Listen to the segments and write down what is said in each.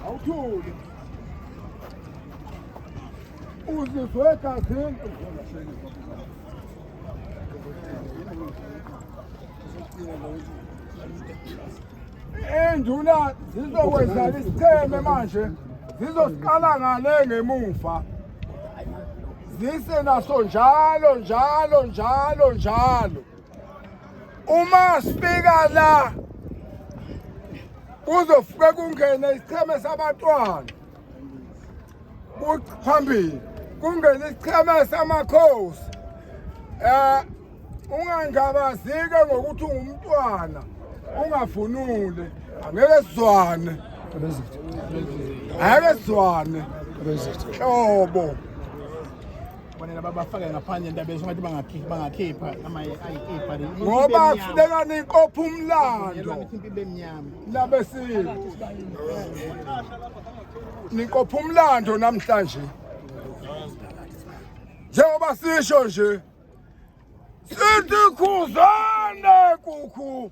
awuthule uzizwe egazini enduna zizokwenzala isicheme manje zizosiqala ngale ngemuva zise naso njalo njalo njalo njalo uma sifika la kuzofike kungene isicheme sabantwana phambili kungene isicheme samakhosi eh ungangabazike ngokuthi ungumntwana ungavunule angeke sizwane angeke sizwane hlobo Kufanele babafake ngaphandle indaba yesho ngathi bangakhipha bangakhipha ama ayikhipha le. ngoba kufuneka nikopha umlando Impi bemnyama. labesini nikopha umlando namhlanje njengoba sisho nje sithi khuzane kukhu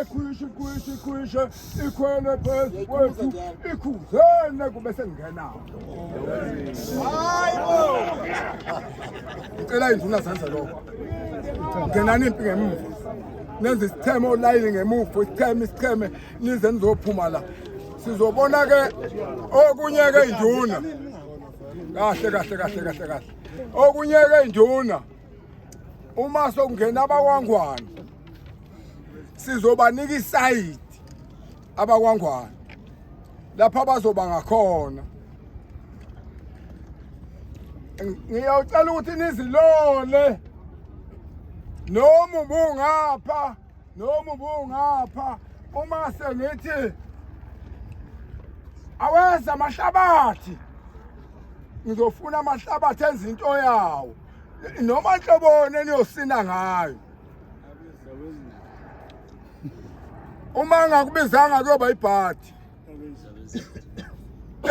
Ekhwishe khwishe khwishe ikhwele phezu kwethu ikhuzene kube sengingenawo. Hayibo. Ngicela induna zenze lokho. Ngenani impi ngemuva. Nenze isitheme olayini ngemuva, isitheme isitheme nize nizophuma la. Sizobona ke okunye ke induna. Kahle kahle kahle kahle kahle. Okunye ke induna. Uma sokungena abakwangwana sizobanika isayidi abakwangwana lapha bazoba ngakhona ngiyawucela ukuthi nizilole noma ubungapha noma ubungapha uma sengithi awenza amahlabathi ngizofuna amahlabathi enza into yawo noma nhloboni eniyosina ngayo uma engakubizanga kuyoba ibhadi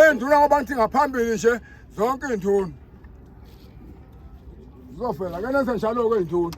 enduna ngoba ngithi ngaphambili nje zonke iy'nduna zizofela ke nenze njalo-ke iy'nduna